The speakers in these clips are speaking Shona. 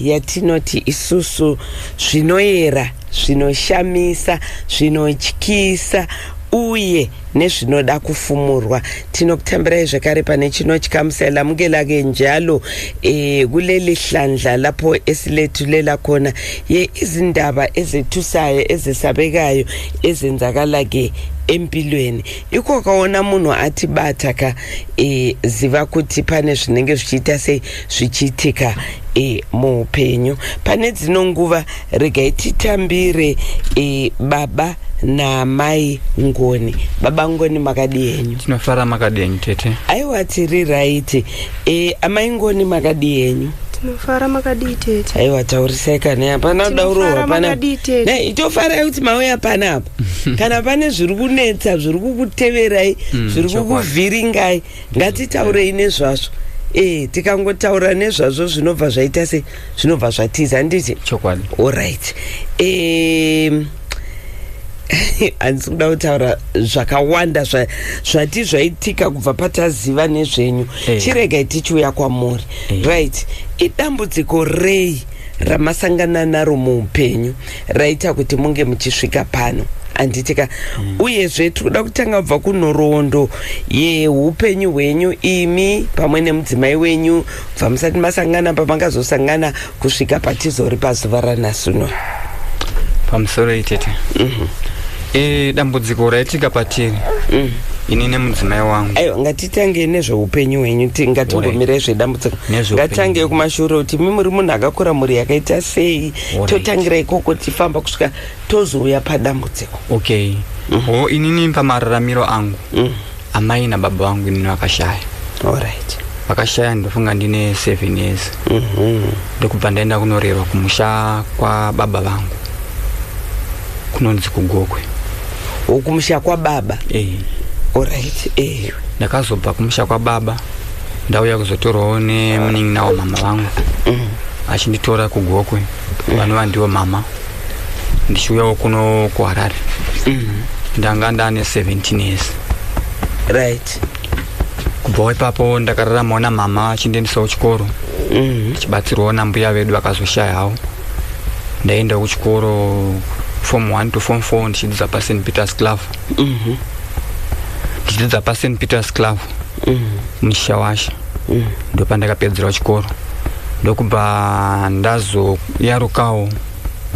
yatinoti isusu zvinoyera zvinoshamisa zvinotyisa uye nezvinoda kufumurwa tinokutambirai zvekare pane chinotyamusa lamukela ke njalo e, kuleli hlandla lapho esilethulela khona ye izindaba ezethusayo ezesabekayo ezenzakala ke empilweni ikoka wona munhu ati bata ka e, ziva kuti pane zvinenge zvichiita sei zvichiitika e, muupenyu pane dzino nguva regai titambire e, baba namai ngoni baba ngoni makadii henyu tinofara makadii henyu tete aiwa tiri raiti e, amai ngoni makadii henyu tinofara makadii tete aiwa taurisai kana hapana kuda urohwa pana ne itofarai kuti mauya pana apa kana pane zviri kunetsa zviri kukuteverai mm, zviri kukuvhiringai ngatitaurei nezvazvo e tikangotaura nezvazvo zvinobva zvaita se zvinobva zvatiza handiti chokwadi allright um, handisi kuda kutaura zvakawanda zvati zvaitika kubva pataziva nezvenyu hey. Eh. chiregai tichiuya kwamuri hey. Eh. right idambudziko rei ramasangana naro muupenyu raita kuti munge muchisvika pano handitika mm. uyezve tiri kuda kutanga kubva kunhoroondo yeupenyu hwenyu imi pamwe nemudzimai wenyu bva musati masangana pamangazosangana kusvika patizori pazuva ranasuno pamusoro itete mm -hmm. e, dambudziko raitika patiri mm ini nemudzimai wangu aiwa ngatitange nezveupenyu hwenyu ngatingomirai zvedambudziko ngatange kumashure kuti mi muri munhu akakura mhuri yakaita sei totangira ikoko tifamba kusvika tozouya padambudziko okay mm. ho inini pamararamiro angu mm. amai nababa vangu inini vakashaya allright vakashaya ndofunga ndine seven years mhm. ndokubva ndaenda kunorerwa kumusha kwababa vangu kunonzi kugokwe ukumusha kwababa eh. allright eh. ndakazobva kumusha kwababa ndauya kuzotorwawo nemunin'ina wamama vangu mm. achinditora kugokwe mm. vanova ndiwo mama ndichiuyawo kuno kuharare mm. ndanga ndane 17 years right kubvawo ipapo ndakararamawo namama achindiendisawo chikoro mm-hmm. chibatsirwawo nambuya vedu vakazoshayawo ndaiendawo kuchikoro form one to form four ndichidzidza pasen peters club mm-hmm. ndichidzidza pasen peters club muchishawasha ndopandakapedzerawo chikoro ndokubva ndazoyarukawo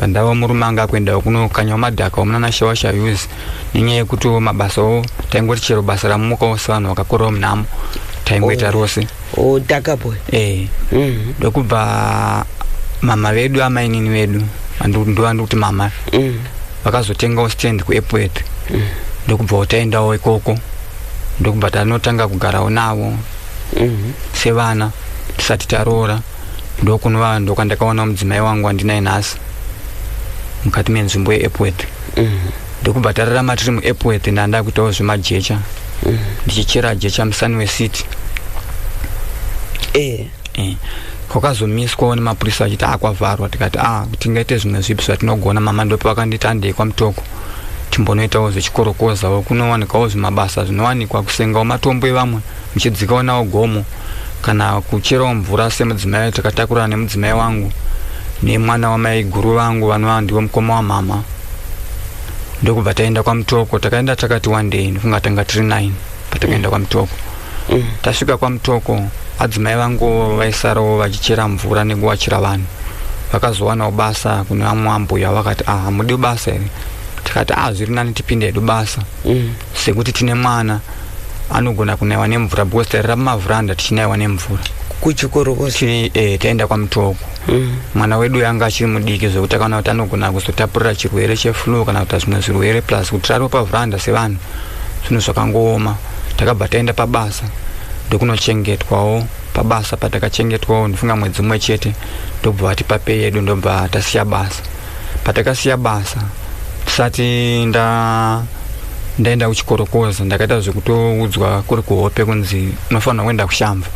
pandava murume anga akuendawo kunokanyawo madhaka wamunana shawasha use nenyaya yekuti mabasawo taingoti chero basa ramukawo sevanhu vakakurawo munhamo taingoita rose o takapo ee Mhm. ndokubva mama vedu amainini vedu vandu- ndovandi kuti mama Mhm. vakazotengawo stand kuepwet ndokubvawo taendawo ikoko ndokubva tanotanga kugarawo navo mhm. sevana tisati taroora ndokunova ndokwandakaona mudzimai wangu wandinaye nhasi mukati menzvimbo yeepworth mhm. ndokubva tararama tiri muepworth ndanda kuitawo zvemajecha mhm. ndichichera jecha musani wecity eh. Eh, kwakazomiswawo nemapurisa achiti akwavharwa tikati a ah, tingaite zvimwe zvipi zvatinogona mama ndopi vakanditi andei kwamutoko timbonoitawo zvechikorokozawo kunowanikawo zvimabasa zvinowanikwa kusengawo matombo evamwe muchidzikawo nawo gomo kana kucherawo mvura semudzimai takatakurana nemudzimai wangu nemwana wamaiguru vangu vanova ndivo mukoma wamama ndokubva taenda kwamutoko takaenda takati wandei ndokunga tanga tiri nine patakaenda kwamutoko mm. tasvika kwamutoko adzimai vangu vaisarawo vachichera mvura nekuwachira vanhu vakazowanawo basa kune vamwe ambuya vakati ah hamudi basa here tikati ah zviri nani tipinde hedu basa mm. sekuti tine mwana anogona kunaiwa nemvura because tairira mumavhuranda tichinaiwa nemvura kuchikoro eh, taenda kwamutoko mm. mwana wedu yanga achiri mudiki zvekuti akaona kuti anogona kuzotapurira chirwere cheflu kana kuita zvimwe zvirwere plus kutirari wepavhuranda sevanhu zvinhu zvakangooma takabva taenda pabasa ndokunochengetwawo pabasa patakachengetwawo ndifunga mwedzi umwe chete ndobva vatipa pei yedu ndobva tasiya basa patakasiya basa tisati nda ndaenda kuchikorokoza ndakaita zvekutoudzwa kuri kuhope kunzi unofanira kuenda kushamva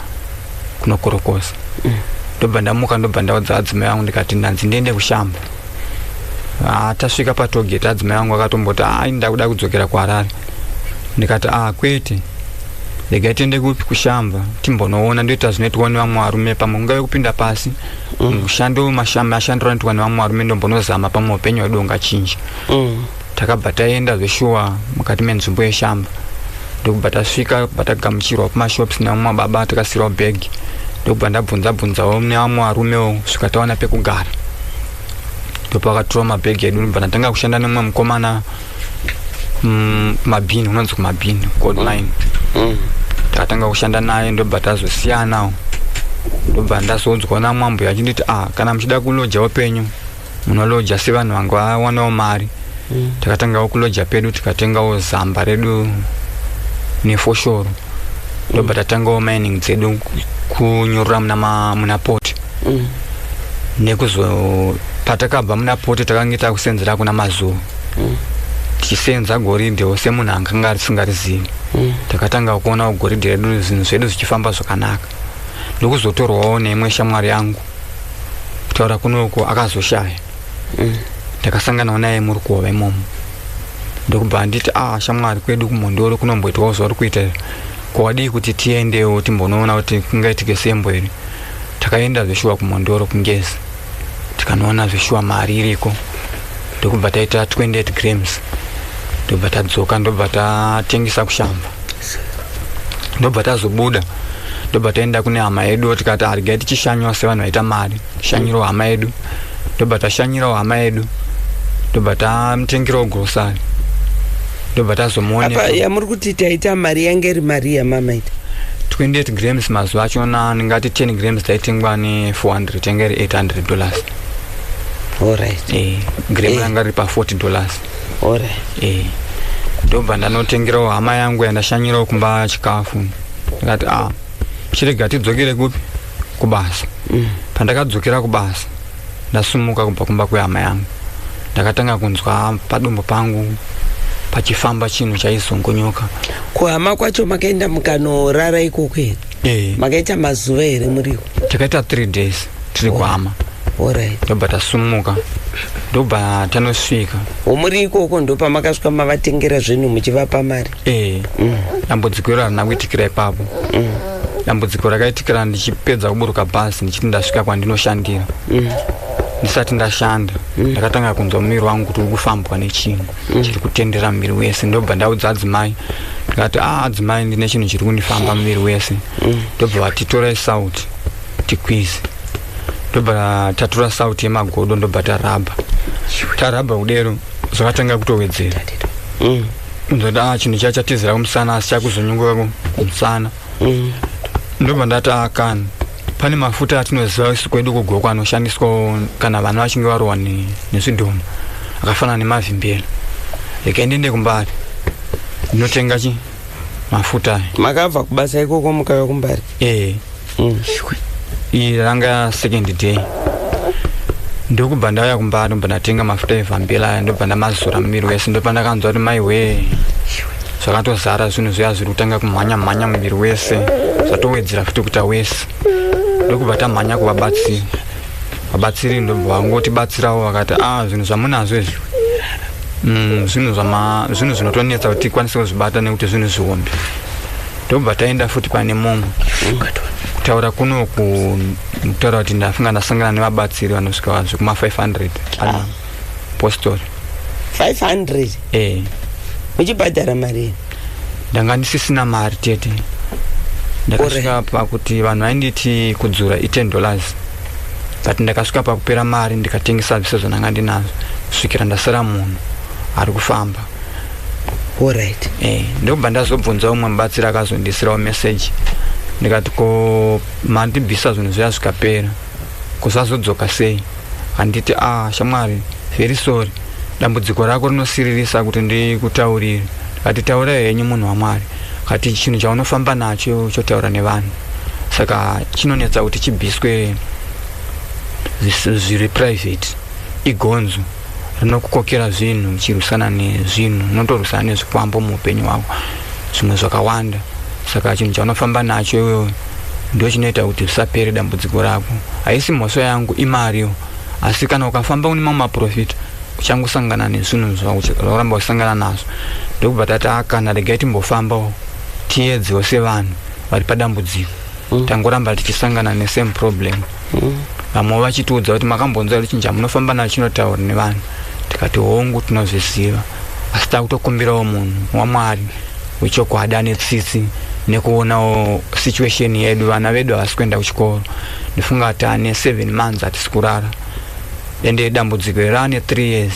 kunokorokoza mm. ndobva ndamuka ndobva ndaudza adzimai vangu ndikati ndanzi ndiende kushamba ah, tasvika patogeti adzimai vangu akatomboti ah, ini ndakuda kudzokera kuharare ndikati a ah, kwete regai tiende kupi kushamba timbonoona ndoita zvinoitwa nevamwe varume pamwe kungave kupinda pasi mm. mushando mashandiro anoitwa nevamwe varume ndombonozama pamwe upenyu hwedu ungachinja mm. takabva taenda zveshuwa mukati menzvimbo yeshamba ndokubva tasvika bva tagamuchirwa kumashops nevamwe mababa tikasirwa bag ndokubva ndabvunza bvunzawo nevamwe varumewo svika tawana pekugara ndopakatura mabhegi edu ndobva ndatanga kushanda nemumwe mukomana mm, kumabhini unonzi kumabhini kuodline mm. takatanga kushanda naye ndobva tazosiyanawo ndobva ndazoudzwa namwambo yachinditi a ah, kana muchida kuloja upenyu munoloja sevanhu vanga vawanawo mari mm. takatangawo kuloja pedu tikatengawo zamba redu nefoshoro ndobva mm. tatangawo mining dzedu kunyorora muna, muna poti mm. nekuzo patakabva muna poti takange takusenzera kuna mazuva mm. tichisenza goridhe ose munhu anganga arisingarizivi mm. takatanga kuonawo goridhe redu zvinhu zvedu zvichifamba zvakanaka ndokuzotorwawo neimwe shamwari yangu kutaura kuno uko akazoshaya mm. ndakasanganawo naye murukova imomo ndokubva anditi a ah, shamwari kwedu kumhondoro kunomboitwawo zvauri kuita ko wadii kuti tiendewo timbonoona kuti kungaitike sembo here takaenda zveshuwa kumhondoro kungezi tikanoona zveshuwa mari iriko ndokubva taita 28 grams ndobva tadzoka ndobva tatengesa kushamba ndobva tazobuda ndobva taenda kune hama yedu tikati harigai tichishanywa sevanhu vaita mari shanyiro hama yedu ndobva tashanyirawo hama yedu ndobva tamutengirawo grosari ndobva tazomuoneapa yamuri kuti taita mari yange iri mari yamamaita 28 grams mazuva achona ndingati 10 grams taitengwa ne 400 tenge ri 800 dollars allright e, eh, gram eh. ranga riri pa 40 dollars ore eh ndobva ndanotengerawo hama yangu yandashanyirawo kumba chikafu ndikati a ah, chirega tidzokere kupi kubasa mm. pandakadzokera kubasa ndasumuka kubva kumba kwehama yangu ndakatanga kunzwa padumbu pangu pachifamba chinhu chaizongonyoka kuhama kwacho makaenda mukanorara ikoko here e. makaita mazuva here muriko takaita three days tiri kuhama Alright. ndobva tasumuka ndobva tanosvika Womuri ikoko ndopamakasvika mavatengera zvinhu muchivapa mari. ee dambudziko iro harina kuitikira ipapo dambudziko rakaitikira ndichipedza kuburuka bhazi ndichiti ndasvika kwandinoshandira ndisati ndashanda ndakatanga kunzwa muviri wangu kuti uri kufambwa nechinhu chiri kutendera muviri wese ndobva ndaudza adzimai ndikati a adzimai ndine chinhu chiri kundifamba muviri wese ndobva vati torai sauti tikwizi ndobva tatura sauti yemagodo ndobva tarabha tarabha kudero zvakatanga kutowedzera mm. ndoda ah, chinhu chiya chatizira kumusana asi chakuzonyunguka kumusana mm. ndobva ndati akani ah, pane mafuta atinoziva isu kwedu kugoko anoshandiswa kana vana vachinge varohwa nezvidhoma akafanana nemavimbela reka ndiende kumbari ndinotenga chi mafuta aya makabva kubasa ikoko mukauya kumbari eh mm. iyi ranga second day ndokubva ndauya kumba ndobva ndatenga mafuta evhambila aya ndobva ndamazora mumiri wese ndobva ndakanzwa kuti mai wee zvakatozara zvinhu zviya zviri kutanga kumhanya mhanya muviri wese zvatowedzera futi kuita wese ndokubva tamhanya kuvabatsiri vabatsiri ndobva vangotibatsirawo vakati a ah, zvinhu zvamunazvo izvi mm, zvinhu zvinotonetsa kuti tikwanise kuzvibata nekuti zvinhu zvihombe tobva taenda futi pane mumwe kutaura kuno kutaura kuti ndafunga ndasangana nevabatsiri vanosvika vanhu zvekuma 500 ah. postori 500 e uchibhadhara mari ndanga ndisisina mari tete ndakasvika pakuti vanhu vainditi kudzura i10 dollars but ndakasvika pakupera mari ndikatengesa zvise zvandanga ndinazvo kusvikira ndasara munhu ari kufamba orit eh, ndokubva ndazobvunza umwe mubatsiri akazondisirawo meseji ndikati ko mandibvisa zvinhu zviya zvikapera kusazodzoka sei handiti a ah, shamwari very sorry dambudziko rako rinosiririsa kuti ndikutaurire ndikati taura henyu munhu wamwari kati chinhu chaunofamba nacho chotaura nevanhu saka chinonetsa kuti chibviswe zviri private igonzo rinokukokera zvinhu uchirwisana nezvinhu unotorwisana nezvikwambo muupenyu hwako zvimwe zvakawanda saka chinhu chaunofamba nacho iwewe ndo chinoita kuti zvisapere dambudziko rako haisi mhosva yangu imariwo asi kana ukafamba une mamwe maprofita uchangosangana nezvinhu zvauramba usangana nazvo ndokubva tati akana ah, regai timbofambawo tiedzewo sevanhu vari padambudziko mm. tangoramba tichisangana nesame problem mm. vamwe vachitiudza kuti makambonzwa kuti chinja munofamba nacho chinotaura nevanhu tikati hongu tinozviziva asi takutokumbirawo munhu wamwari wechokwadi ane tsitsi nekuonawo situation yedu vana vedu havasi kuenda kuchikoro ndifunga kuti ane seven months hatisi kurara ende dambudziko ere ane three years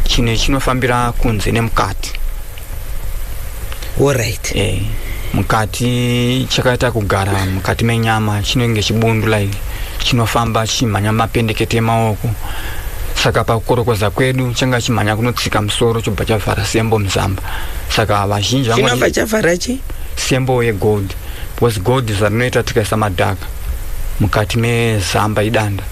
chine chinofambira kunze nemukati Alright. Eh, mukati chakaita kugara mukati menyama chinenge chibundu like chinofamba chimhanya mapendekete emaoko saka pakukorokoza kwedu changa chimhanya kunotsika musoro chobva chavhara sembo muzamba saka vazhinji vanoti- Chinobva chavhara chi? sembo yegold because gold zvarinoita tikaisa madhaka mukati mezamba idanda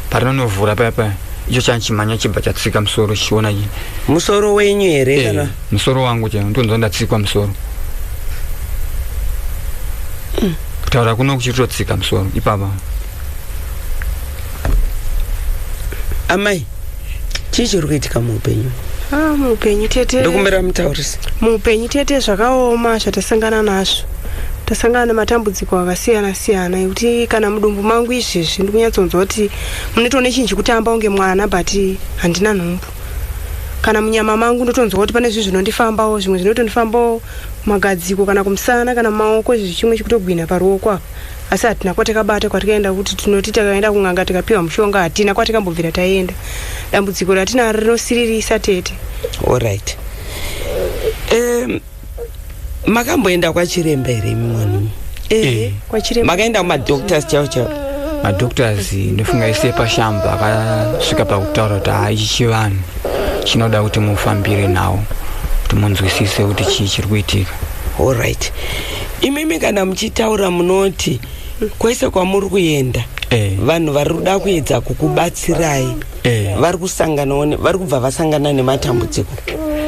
parinonovhura paya paya icho chachimhanya chibva chatsika musoro chichiona chi- musoro wenyu here eh, kana musoro wangu chaiwo ndonzwa ndatsikwa musoro mm. kutaura kuno kuchitotsika musoro ipapa amai chii chiri kuitika muupenyu ah, muupenyu tete ndokumbira mutaurisi muupenyu tete zvakaoma zvatasangana nazvo tasangana nematambudziko akasiyana siyana ekuti kana mudumbu mangu izvezvi ndikunyatsonzwa kuti munotoone chinhu chekutamba unge mwana but handina nhumbu kana munyama mangu ndotonzwa kuti pane zvinhu zvinondifambawo zvimwe zvinotondifambawo magadziko kana kumusana kana maoko izvi chimwe chikutogwina paruoko apa asi hatina kwatakabata kwatikaenda kuti tinoti takaenda kun'anga tikapiwa mushonga hatina kwatikambobvira taenda dambudziko ratinaro rinosiririsa tete allright um, makamboenda kwachiremba here imi mwanimi ehe kwachiremba makaenda kumadoctors chavo chavo madoctors ndofunga ese pashamba akasvika pakutaura kuti haa ichi chivanhu chinoda kuti mufambire nawo kuti munzwisise kuti chii chiri kuitika allright imimi kana muchitaura munoti kwese kwamuri kuenda Eh. vanhu vari kuda kuedza kukubatsirai eh. vari kusanganawo vari kubva vasangana nematambudziko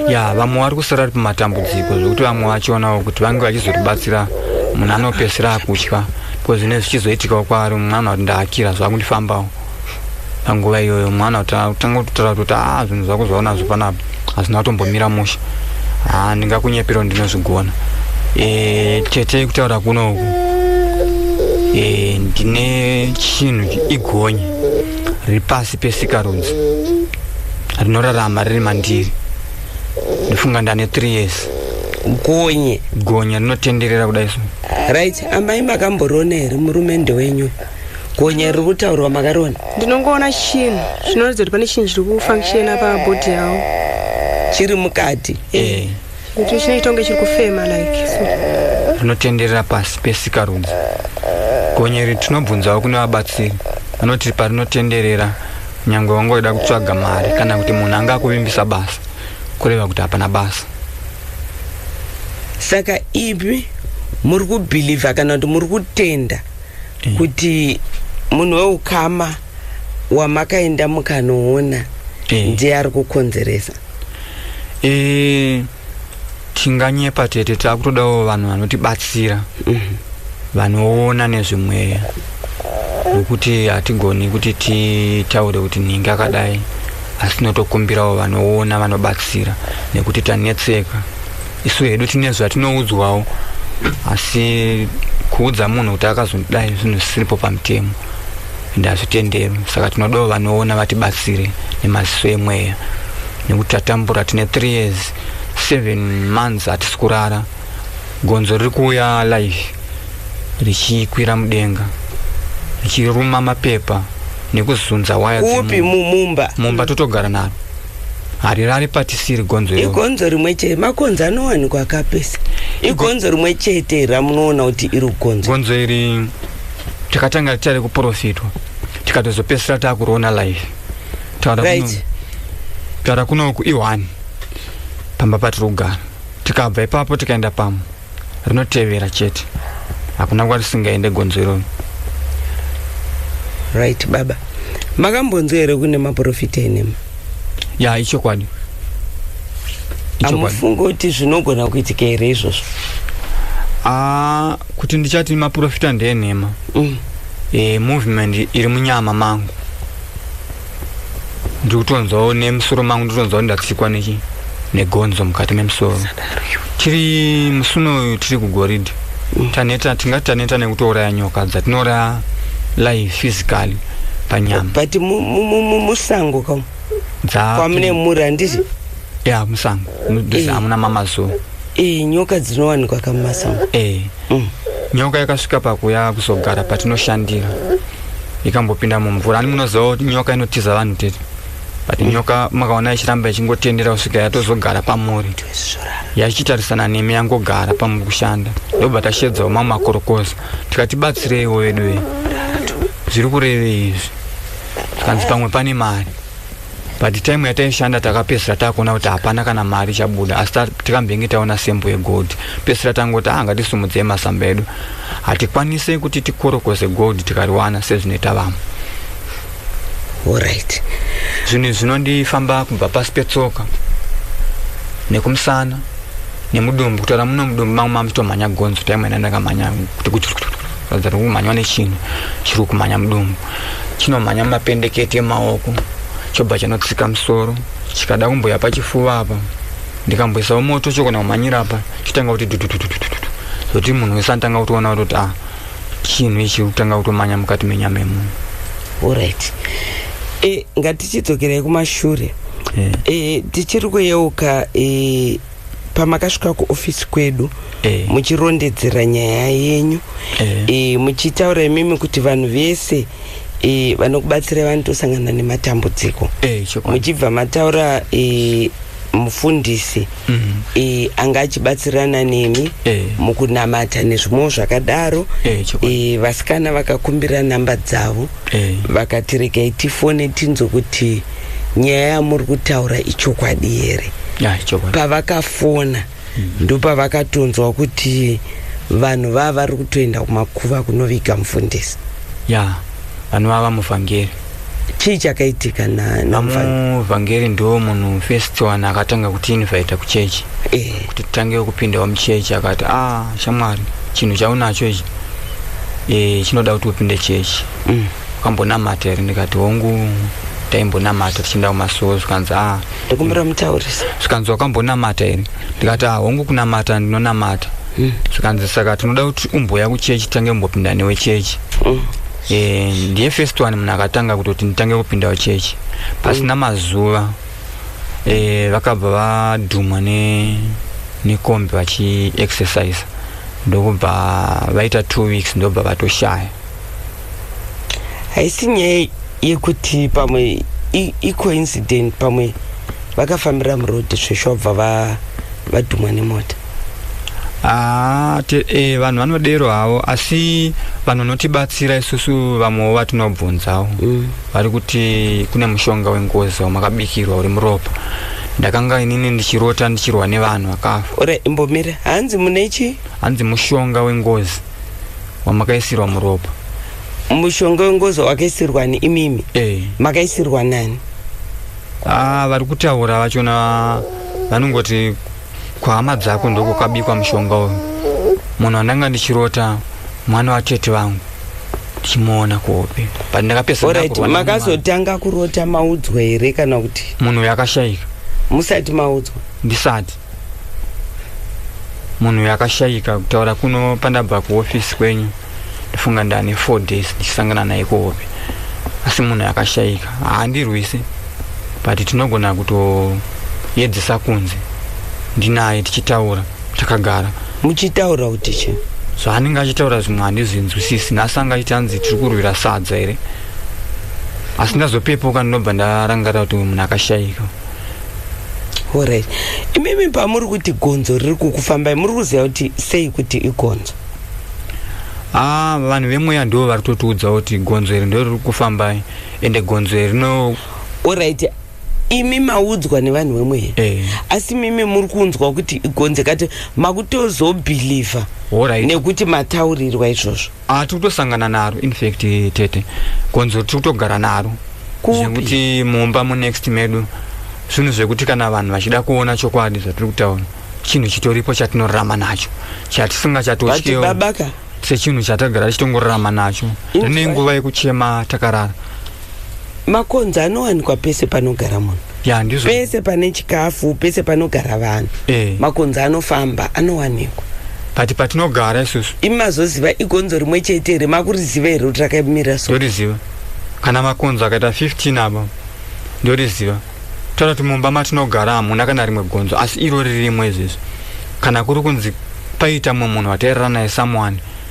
ya vamwe vari kusara ri pamatambudziko zvekuti vamwe vachionawo kuti vange vachizoribatsira munhu anopesera akutya bcause zvine zvichizoitikawo kwaari mwana kuti ndaakira zvakundifambawo panguva iyoyo mwana kutanga kutotara kuti a ah, zvinhu zvako zvaona zvo panapa hazvina kutombomira musha ha ah, ndingakunyepiro ndinozvigona eh, tete kutaura kuno uku eh, ndine chinhu igonye riri pasi pesikarudzi rinorarama riri mandiri ndofunga ndane 3 years gonye gonya rinotenderera kudai so right amai makamboriona here murume ndewenyu gonya riri kutaurwa makariona ndinongoona chinhu zvinoratidza kuti pane chinhu chiri kufunctiona pabhodhi yavo chiri mukati eh. Kuti chine tonge chiri kufema like. Rinotenderera pasi pesikarudzi. Gonyeri tinobvunzawo kune vabatsiri vanoti parinotenderera nyangwe wangoida kutsvaga mari kana kuti munhu anga akuvimbisa basa kureva kuti hapana basa. Saka ipi muri kubhilivha kana kuti muri kutenda eh. kuti munhu weukama wamakaenda mukanoona eh. ndiye ari kukonzeresa e, tinganyepa tete takutodawo vanhu vanotibatsira mhm. vanoona nezvemweya wekuti hatigoni kuti titaure kuti nhingi akadai asi tinotokumbirawo vanoona vanobatsira nekuti tanetseka isu hedu tine zvatinoudzwawo asi kuudza munhu kuti akazondidai zvinhu zvisiripo pamutemo ende hazvitenderi saka tinodawo vanoona vatibatsire nemaziso emweya nekuti tatambura tine three years seven months hatisi kurara gonzo riri kuuya live richikwira mudenga richiruma mapepa nekuzunza waya kupi mumumba mumba totogara naro harirari patisiri gonzo igonzo rimwe chete makonzo anowanikwa akapesa igonzo rimwe chete ramunoona kuti iri gonzo gonzo iri takatanga tari kuprofitwa tikatozopesera takuroona live taara kuno kuiwani pamba patiri kugara tikabva ipapo tikaenda pamo rinotevera chete hakuna nguva tisingaende gonzo iroro right baba makambonzwa here kune maprofita enema ya ichokwadi amufunge kuti zvinogona kuitika here izvozvo ah, kuti ndichati maprofita ndenhema mm. e, movement iri munyama mangu ndikutonzwawo nemusoro mangu ndikutonzwawo ndatsikwa nechi negonzo mukati memusoro tiri musuno uyu tiri kugoridhe mm. taneta tingati taneta nekutouraya nyoka dzatinouraya live physically panyama but musango ka kwamune mura handiti ya musango eh. hamuna mamazuva eh, nyoka dzinowanikwa kamumasango eh. mm. nyoka yakasvika pakuya kuzogara patinoshandira ikambopinda mumvura ani munoziva kuti nyoka inotiza vanhu tete but mm. nyoka makaona ichiramba ichingotendera kusvika yatozogara pamuri yachitarisana nemi yangogara pamuri kushanda ndobva tashedzawo mamwe makorokoza tikati batsireiwo veduwe zviri kurevei izvi tikanzi pamwe pane mari but time yataishanda takapesira takuona kuti hapana kana mari ichabuda asi tikambenge taona sembo yegold pesira tangoti anga ah, tisumudzei masamba edu hatikwanise kuti tikorokoze gold tikariwana sezvinoita vamwe orit zvinhu zvinondifamba kubva pasi petsoka nekumusana nemudumbu kutaura muno mudumbu mangu mamutomhanya gonzo taimwena ndakamhanya kuti kuratidza kuti kumhanywa nechinhu chiri kumhanya mudumbu chinomhanya mumapendeketi emaoko chobva chanotsika musoro chikada kumboya pachifuva apa ndikamboisawo moto chokona kumhanyira apa chotanga kuti dududududududu zoti munhu wese anotanga kutoona kutoti a ah, chinhu ichi kutanga kutomanya mukati menyama yemunhu orit e, eh, ngatichidzokerei kumashure yeah. e, tichiri kuyeuka e, pamakasvika kuofisi kwedu e. muchirondedzera nyaya yenyu e. e, muchitaura imimi kuti vanhu vese e, vanokubatsirai vanotosangana nematambudziko e, muchibva mataura e, mufundisi mm. e, anga achibatsirana nemi e. mukunamata nezvimwewo zvakadaro e, e, vasikana vakakumbira namba dzavo e. vakati regai tifone tinzwe kuti nyaya yamuri kutaura ichokwadi here pavakafona ndopavakatonzwa kuti vanhu vava vari kutoenda kumakuva kunoviga mufundisi ya yeah, vanhu vava muvhangeri chii chakaitika namuvhangeri ndo munhu first one akatanga kutiinvaita kuchechi eh. kuti titange kupindawo muchechi akati a ah, shamwari chinhu chaunacho ichi eh, chinoda kuti upinde chechi mm. ukambonamata here ndikati hongu taimbonamata tichienda kumasowo zvikanzi a ah, ndokumbira mutaurisa zvikanzi wakambonamata here ndikati ah, hongu kunamata ndinonamata mm. zvikanzi saka tinoda kuti umboya kuchechi tange mbopinda newe chechi mm. e, ndiye first one munhu akatanga kutoti nditange kupindawo chechi pasina mm. mazuva e, vakabva vadhumwa ne nekombi vachiexercise ndokubva vaita two weeks ndobva vatoshaya haisi nyaya yekuti pamwe icoincident pamwe vakafambira murodi sveshu vabva vadhumwa nemota haa ah, eh, vanhu vanodero havo asi vanhu vanotibatsira isusu vamwewo vatinobvunzawo mm. vari kuti kune mushonga wengozi wamakabikirwa uri muropa ndakanga inini ndichirota ndichirwa nevanhu vakafa ore imbomira hanzi mune chii hanzi mushonga wengozi wamakaisirwa muropa mushonga wengozo wakaisirwa ni imimi eh. makaisirwa nani ah, vari kutaura vachona vanongoti kwahama dzako ndoko kwabikwa mushonga uyu munhu andanga ndichirota mwana watete vangu ndichimuona kuhope but ndakapesamakazotanga kurota maudzwa here kana kuti munhu uyu akashayika musati maudzwa ndisati munhu yakashayika kutaura kuno pandabva kuhofisi kwenyu ndifunga ndane four days ndichisangana naye kuhope asi munhu yakashayika haandirwisi but tinogona kutoyedzesa kunze ndinaye tichitaura takagara muchitaura kuti chii zvaanenge achitaura zvimwe handizvinzwisisi nhasi anga aiti hanzi tiri kurwira sadza here asi ndazopepuka ndinobva ndarangarira kuti munhu akashayika orit imimi pamuri kuti gonzo riri kukufambai muri kuziva kuti sei kuti igonzo ah, vanhu vemweya ndivo vari totiudza kuti gonzo iri ndoriri kufambai ende gonzo iri no orit imi maudzwa nevanhu vemweya eh. asi mimi muri kunzwa kuti igonzo kati makutozobhilivha nekuti mataurirwa izvozvo Ah, tiri kutosangana naro infact tete konzo tiri kutogara naro zvekuti mumba munext medu zvinhu zvekuti kana vanhu vachida kuona chokwadi zvatiri kutaura chinhu chitoripo chatinorarama nacho chatisinga chatotyewo sechinhu chatagara tichitongorarama nacho rine nguva yekuchema takarara makonzo anowanikwa pese panogara munhu ya ndizvo pese pane chikafu pese panogara vanhu Eh. makonzo anofamba anowanikwa but patinogara isusu imi mazoziva igonzo rimwe chete here makuriziva here kuti rakamira so ndoriziva kana makonzo akaita 15 apa ndoriziva toda kuti mumba matinogara hamuna kana rimwe gonzo asi iro ririmwe izvezvi kana kuri kunzi paita mumwe munhu watairara naye someone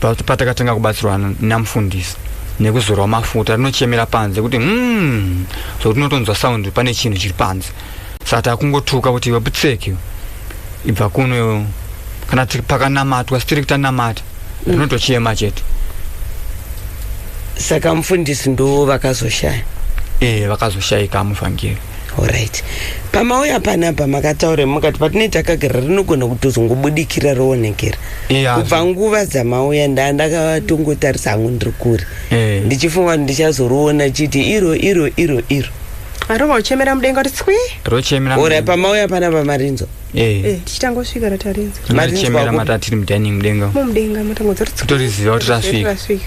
patakatanga kubatsirwa namufundisi nekuzorwa mafuta rinochemera panze kuti mm, so tinotonzwa sound pane chinhu chiri panze saka takungotuka kuti iwe putseki ibva kuno kana pakanamatwa sitiri kutanamata mm. rinotochema mm. chete saka mufundisi ndo vakazoshaya ee eh, vakazoshaika muvhangeri Alright. Pamauya panapa makataura mukati patine takagara rinogona kutozongobudikira roonekera. Yeah. Kubva nguva dzamauya nda ndakatongotarisa hangu ndiri kure. Eh. Ndichifunga kuti ndichazoriona chiti iro iro iro iro. Arova uchemera mudenga kuti tswi. Rochemera. Ora pamauya panapa marinzo. Eh. Eh, tichitanga kusvika ratarinzi Matichemera mata tiri mudining mudenga. umu. mumudenga matango dzoti Kutoriziva kuti rasvika. rasvika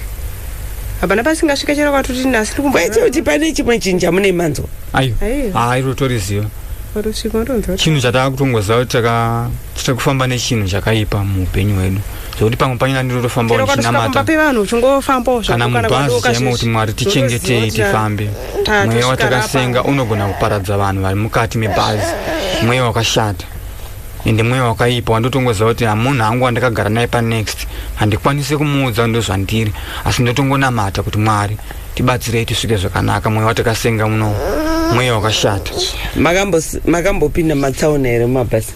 hapana pasingasvika chero kwatoti nasi tiri kumbo kwete kuti pane chimwe chinhu chamune manzwa Ayo. Ayo. Ah, iro toriziva. watosvika watonzwa kuti Chinhu chatava kutongoziva kuti taka tiri kufamba nechinhu chakaipa muupenyu hwedu. Zvekuti pamwe panyina ndiri kutofamba chero kwatosvika kumba ndichinamata. pevanhu uchingofambawo kana zvako mubhazi chaimo kuti mwari tichengetei tifambe Ah, mweya watakasenga unogona kuparadza vanhu vari mukati mebhazi mweya wakashata ende mweya wakaipa wandotongoziva kuti amunhu angu wandakagara naye panext handikwanise kumuudza ndozvandiri asi ndotongonamata kuti mwari tibatsirei tisvike zvakanaka mweya watakasenga muno mweya wakashata makambopinda matsaona here mumabhasi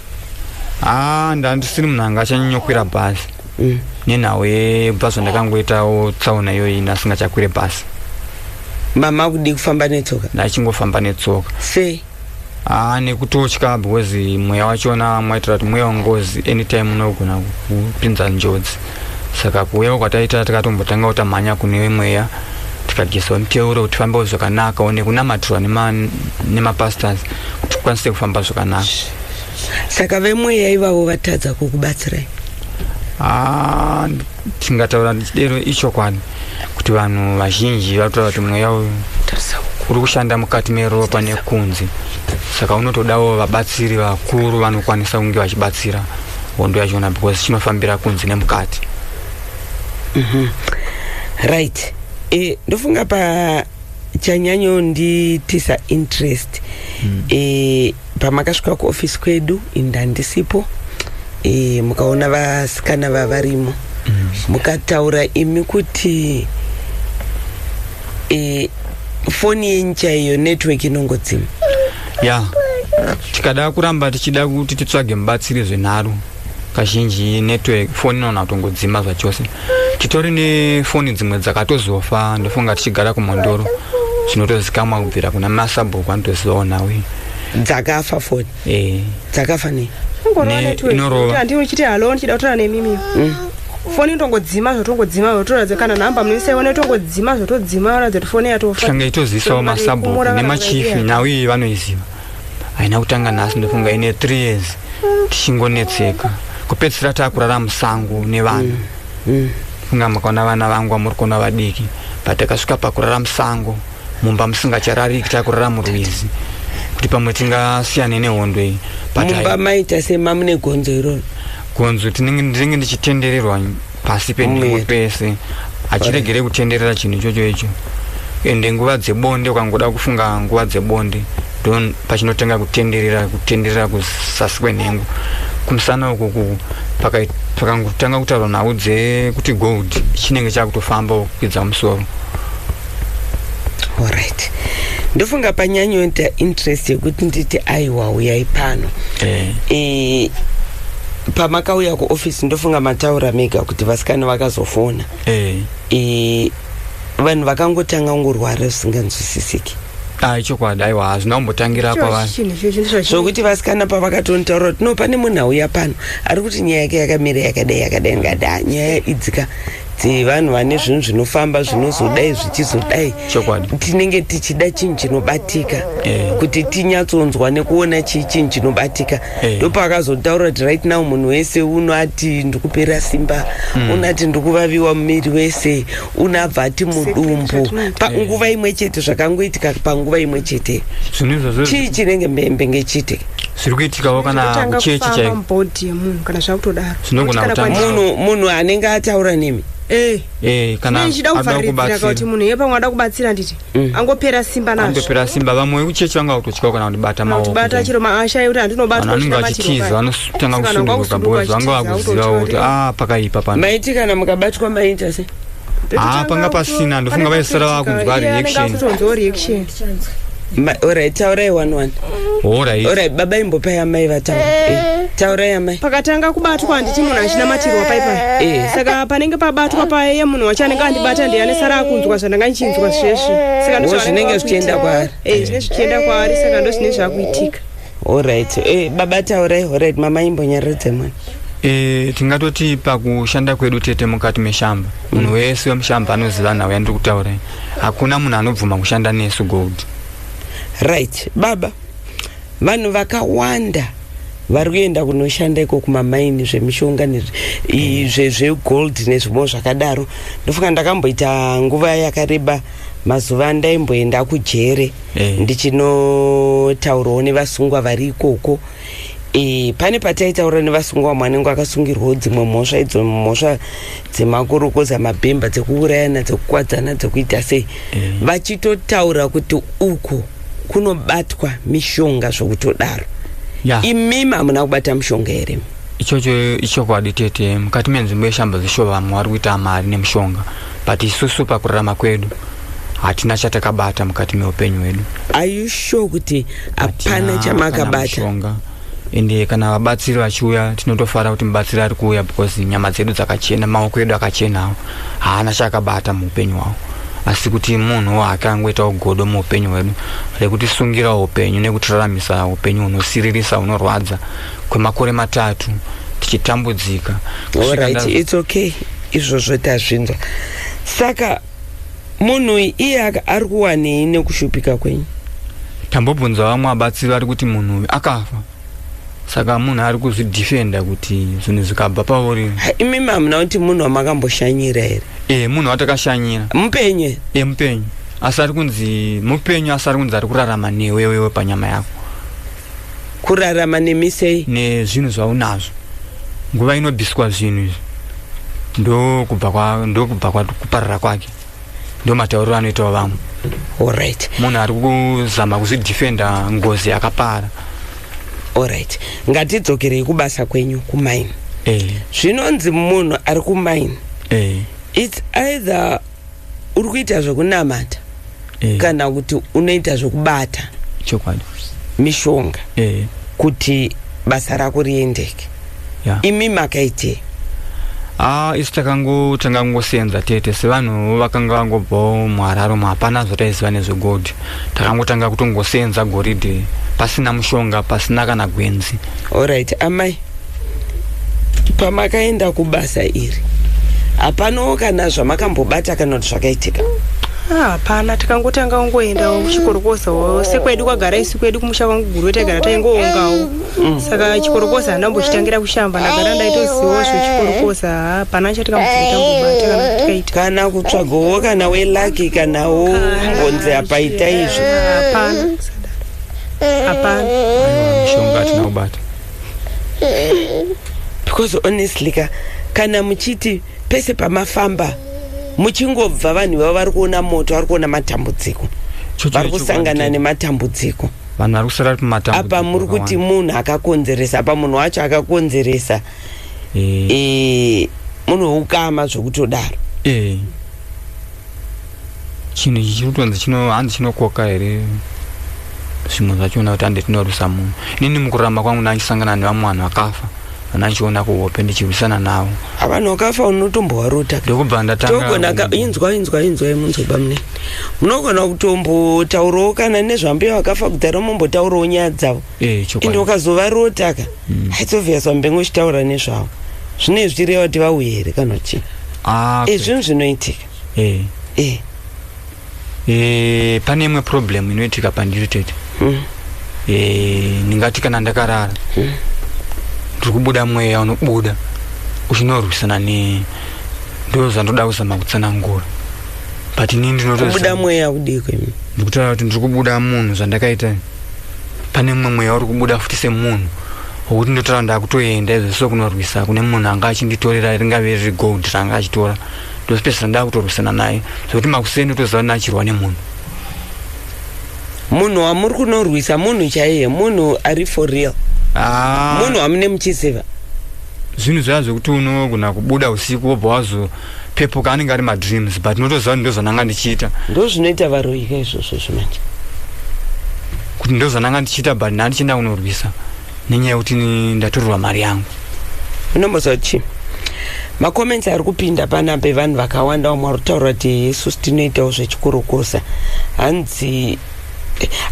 haa ah, ndandisiri munhu anga achanyanyokwira bhazi mm. nenhau yebhazi vandakangoitawo tsaona iyoyi nasingachakwire bhazi mama akudii kufamba netsoka ndachingofamba netsoka sei haa nekutotya because mweya wachona mwaitira kuti mweya wengozi anytime unogona kupinza njodzi saka kuuyawo kwataita tikatombotanga kutamhanya kune mweya tikadyiswa miteuro kuti fambawo zvakanaka one kunamatirwa nemapastors kuti tikwanise kufamba zvakanaka saka vemweya ivavo vatadza kukubatsirai ah, tingataura ndichidero ichokwadi kuti vanhu vazhinji vatoa kuti mweya uyu uri kushanda mukati meropa nekunzi saka unotodawo vabatsiri vakuru vanokwanisa kunge vachibatsira hondo yachona because chinofambira kunzi nemukati mm -hmm. right e, ndofunga pa chanyanyo nditisa interest mm. e, pamakasvika kuofisi kwedu ini ndandisipo e, mukaona vasikana vavarimo mm. mukataura imi kuti e, foni yenyu chaiyo network inongodzima ya yeah. tikada kuramba tichida kuti titsvage mubatsiri zvenharo kazhinji network foni inoona kutongodzima zvachose titori nefoni dzimwe dzakatozofa ndofunga tichigara kumondoro zvinotozikamwa kubvira kuna masabhuku anotozivawo nhau iyi dzakafa foni e. dzakafa nei inorovaandiuchiti halo ndichida kutora nemimi mm. foni itongodzima zvotongodzima zvotoratidza kana nhamba munoisaiona itongodzima zvotodzima ratidza kuti foni yatofa tikange itozivisawo masabhuku nemachifi nhau iyi vanoiziva haina kutanga nhasi ndofunga ine three years tichingonetseka kupedzisira taakurara musango nevanhu mm, mm. funga makaona vana vangu vamuri kuona vadiki but takasvika pakurara musango mumba musingacharariki takurara murwizi kuti pamwe tingasiyane nehondo iyi mumba maita semamune gonzo iroro gonzo tinenge ndichitendererwa pasi penhengo pese hachiregere kutenderera chinhu ichocho icho ende nguva dzebonde ukangoda kufunga nguva dzebonde don pachinotanga kutenderera kutenderera kuzasi kwenhengo kumusana uku pakangotanga kutaurwa nhau dzekuti gold chinenge chakutofamba kukwidza musoro orit ndofunga panyanyoita interest yekuti nditi aiwa uyai pano eh. Eh, pamakauya kuoffice ndofunga mataura mega kuti vasikana vakazofona eh. eh, vanhu vakangotanga kungorwara zvisinganzwisisiki ai chokwadi aiwa hazvina kumbotangira kwavanosokuti vasikana pavakatonitaura kuti no pane munhu auya pano ari kuti nyaya yake yakamira yakadai yakadai ngada nyaya idzika kuti vanhu vane zvinhu zvinofamba zvinozodai zvichizodai tinenge tichida chinhu chinobatika eh. kuti tinyatsonzwa nekuona chii chinhu chinobatika eh. ndopakazotaura kuti right now munhu wese unoati ndikupera simba mm. unati ndikuvaviwa mumiri wese unabva ati mudumbu panguva eh. imwe chete zvakangoitika panguva imwe chete chii chinenge mbembe ngechite zviri kuitikawo kana kuchechi chaiko kana zvakutodaro Tinogona Kana kutanga. kwandiri- munhu munhu anenge ataura nemi Eh. Eh, kana Nei ndichida akuda kuvharidzira kana kuti kubatsira. munhu iye pamwe ada kubatsira nditi Mm. angopera simba nazvo Andopera simba vamwe vekuchechi vanga kutotyawo kana kundibata maoko. kutibata chero maashaye kuti handinobatwa Vanhu vanenge vachitiza vanotanga Sikana, kusunduka kwakusunduka boys vanga chitiza, vakuzivawo kuti autotaurira. ah pakaipa pano. maiti kana mukabatwa maita se haa panga pasina ndofunga vaisara vakunzwa reaction orit taurai one one orit baba imbopai amai vataura eh. eh, taurai amai pakatanga kubatwa handiti munhu achinamatiriwa paipa eh. saka panenge pabatwa paye munhu wacho anenge andibata ndiye anesara akunzwa zvandanga ndichinzwa zveshe saka zvinenge zvichienda kwaari zvinenge zvichienda kwaari saka ndozvine zvakuitika Alright. Eh, baba taurai alright mama imbonyaradza mwana. Eh, tingatoti pakushanda kwedu tete mukati meshamba. Munhu mm. wese wemushamba anoziva nhau yandiri kutaura. Hakuna munhu anobvuma kushanda nesu gold. Right. Baba vanhu vakawanda vari kuenda kunoshanda iko kumamaini zvemishonga zvegold nezvimwe zvakadaro ndofunga ndakamboita nguva yakareba mazuva andaimboenda kujere eh. ndichinotaurawo nevasungwa vari ikoko e, pane pataitaura nevasungwa vamwe anenge akasungirwawo dzimwe mhosva idzo mhosva dzemakorokoza mabhemba dzekuurayana dzekukwadzana dzekuita sei eh. vachitotaura kuti uku kunobatwa mishonga zvokutodaro yeah. imimi hamuna kubata mishonga here ichocho ichokwadi tete mukati menzvimbo yeshambo dzeshuva vamwe vari kuita mari nemushonga but isusu pakurarama kwedu hatina chatakabata mukati meupenyu hwedu are you sure kuti hapana chamakabata ende kana vabatsiri vachiuya tinotofara kuti mubatsiri ari kuuya because nyama dzedu dzakachena maoko edu akachenawo haana chaakabata muupenyu hwavo asi kuti munhu wake angoitawo godo muupenyu hwedu rekutisungirawo upenyu nekutiraramisa upenyu hunosiririsa hunorwadza kwemakore matatu tichitambudzika right, it's okay izvozvo tazvinzwa saka munhu iye ari kuwanei nekushupika kwenyu tambobvunza vamwe abatsiri vari kuti munhu uyu akafa saka munhu ari kuzvidefenda kuti zvinhu zvikabva pauri imimi hamuna kuti munhu wamakamboshanyira here e munhu watakashanyira mupenyu e mupenyu asi ari kunzi mupenyu asi ari kunzi ari kurarama newewewe panyama yako kurarama nemi sei nezvinhu zvaunazvo nguva inobiswa zvinhu izvi ndokubva ndokubva kuparara kwake ndomatauriro anoitawo vamwe orit munhu ari kuzama kuzvidefenda ngozi yakapara orit ngatidzokerei kubasa kwenyu kumaini eh. zvinonzi munhu ari kumaini eh. its either uri kuita zvekunamata eh. kana kuti unoita zvekubata chokwadi mishonga eh. kuti basa rako riendeke yeah. imi makaitei Ah, isu takangu tangangosenza tete sevanhu vakanga vangobvawo muhararo hapana zvotaiziva nezvegold takangotanga kutongosenza goridhe pasina mushonga pasina kana gwenzi orit amai pamakaenda kubasa iri hapanawo kana zvamakambobata kana kuti zvakaitika ah, hapana tikangotanga ungoendawo kuchikorokozawo sekwedu kwagara isi kwedu kumusha kwangu guru taigara taingoongawo mm. saka chikorokoza handambochitangira kushamba ndagara ndaitozivawo zvechikorokoza hapana chatikamboitambobata kana tikaita kana kutsvagawo kana welaki kanawo honze apaita izvo hapana hapana mishonga atina kubata because honestly ka kana muchiti pese pamafamba muchingobva vanhu vavo vari kuona moto vari kuona matambudziko vari kusangana nematambudziko vanhu vari kusara ri matambudziko apa muri kuti munhu akakonzeresa apa munhu wacho akakonzeresa eh. eh, munhu weukama zvekutodaro eh. chinhu ichi chiri kutonzi chino hanzi chinokoka here zvimwe zvachiona kuti hande tinorwisa munhu inini mukurarama kwangu ndaichisangana nevamwe vanhu vakafa vanachiona kuhope ndichirwisana navo avanhu vakafa unotombovarota ndokubva ndatanga inzwa inzwa inzwa yemunzoba munene munogona kutombotaurawo kana nezvambuya vakafa kudhara mombotaurawo nyaya dzavo eh, ende ukazovarota ka hmm. haitsovias vambenge uchitaura nezvavo zvine zvichireva kuti vauye here kana chii ah, ezvinhu zvinoitika eh eh eh pane imwe problem inoitika pandiri tete mm. eh ndingati kana ndakarara mm. ndiri kubuda mweya unobuda uchinorwisana ne ndo zvandoda kuzama kutsanangura but ini ndinotobuda mweya udiko imi ndikutaura kuti ndiri kubuda munhu zvandakaita pane mumwe mweya uri kubuda futi semunhu wokuti ndotaura ndakutoenda izvo so kunorwisa kune munhu anga achinditorera ringave riri gold ranga achitora ndozopedzisira ndakutorwisana naye zvekuti makuseni utoziva nachirwa nemunhu munhu wamuri kunorwisa munhu chaiye munhu ari for real ah. munhu wamune muchiziva zvinhu zvaya zvekuti unogona kubuda usiku wobva wazo pepuka anenge ari madreams but unotoziva kuti ndozvananga ndichiita ndo zvinoita varoika izvozvo zvimanje kuti ndozvananga ndichiita but ndandichienda kunorwisa nenyaya yekuti ini ndatorerwa mari yangu unomboziva chii macomments ari kupinda pana pevanhu vakawanda vamwe vari kutaura kuti isusu tinoitawo zvechikurukusa hanzi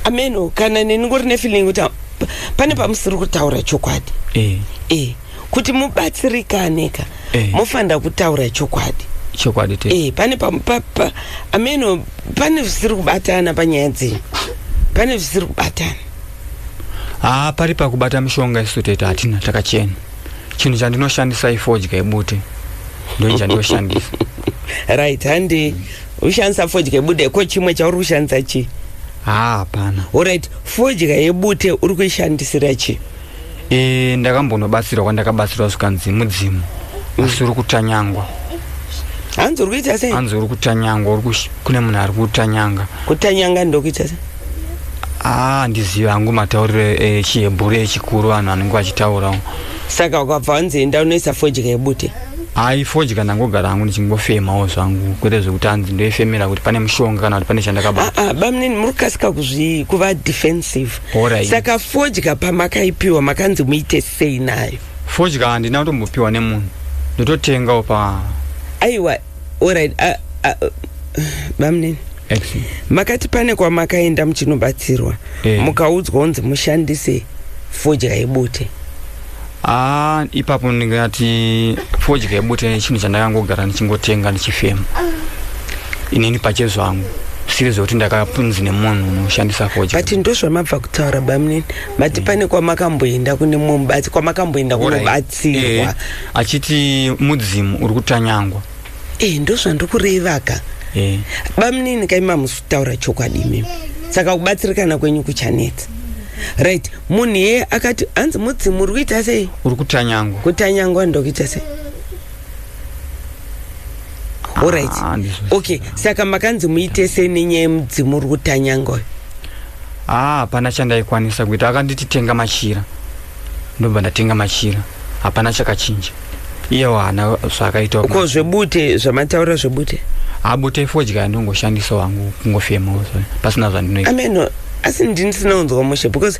ameno kana neni ngori nefeeling kuti ha- p- pane pamusiri kutaura chokwadi eh e kuti mubatsirikane ka Eh. mofanira kutaura chokwadi chokwadi te e pane pa- pa- pa- ameno pane zvisiri kubatana panyaya dzenyu pane zvisiri kubatana haa pari pakubata mishonga isu tete hatina takachena chinhu chandinoshandisa ifodya ibute ndoi chandiyoshandisa right handi ushandisa fodya yebude ko chimwe chauri kushandisa chii haa hapana orit fodya yebute uri kuishandisira chii e, ndakambonobatsirwa kwandakabatsirwa zvikanzi mudzimu asi uri kutanyangwa hanzi uri kuita sei hanzi uri kutanyangwa uri kush- kune munhu ari kutanyanga kutanyanga ndokuita sei aa ndiziva hangu matauriro e, chihebhuru echikuru vanhu vanenge vachitaurawo saka ukabva wanzi enda unoisa fodya yebute hayi fodya ndangogara hangu ndichingofemawo zvangu kwete zvekuti hanzi ndoifemera kuti pane mushonga kana kuti pane chandakabata aa bamnini muri kukasika kuzvi kuva defensive Horai. saka fodya pamakaipiwa makanzi muite sei nayo fodya handina kutombopiwa nemunhu ndototengawo pa aiwa orit uh, uh, bamnini X. makati pane kwamakaenda muchinobatsirwa Eh. mukaudzwa kunzi mushandise fodya yebute haa ipapo ndingati fodya yebute chinhu chandakangogara ndichingotenga ndichifema inini pache zvangu siri zvekuti ndakapunzi nemunhu unoshandisa fodya but ndozvamabva kutaura bamnini mati mm. pane kwamakamboenda kune mumwe mubatsi kwamakamboenda kunobatsirwa eh, achiti mudzimu uri kutanyangwa eh ndozvandikurevaka eh. bamunini kaimamusi kutaura chokwadi imimi saka kubatsirikana kwenyu kuchanetsa right munhu yeye akati hanzi mudzimu uri kuita sei uri kutanyangwa kutanyangwa ndokuita sei orit ah, okay saka makanzi muite sei nenyaya yemudzimu uri kutanyangwa haa hapana chandaikwanisa kuita akanditi tenga machira ndobva ndatenga machira hapana chakachinja iyewo haana zvaakaita ko zvebute zvamataura zvebute abute fodya ndongoshandisa wangu kungofemawo pasina zvandinoita ameno asi ndinisina unzwa mushe because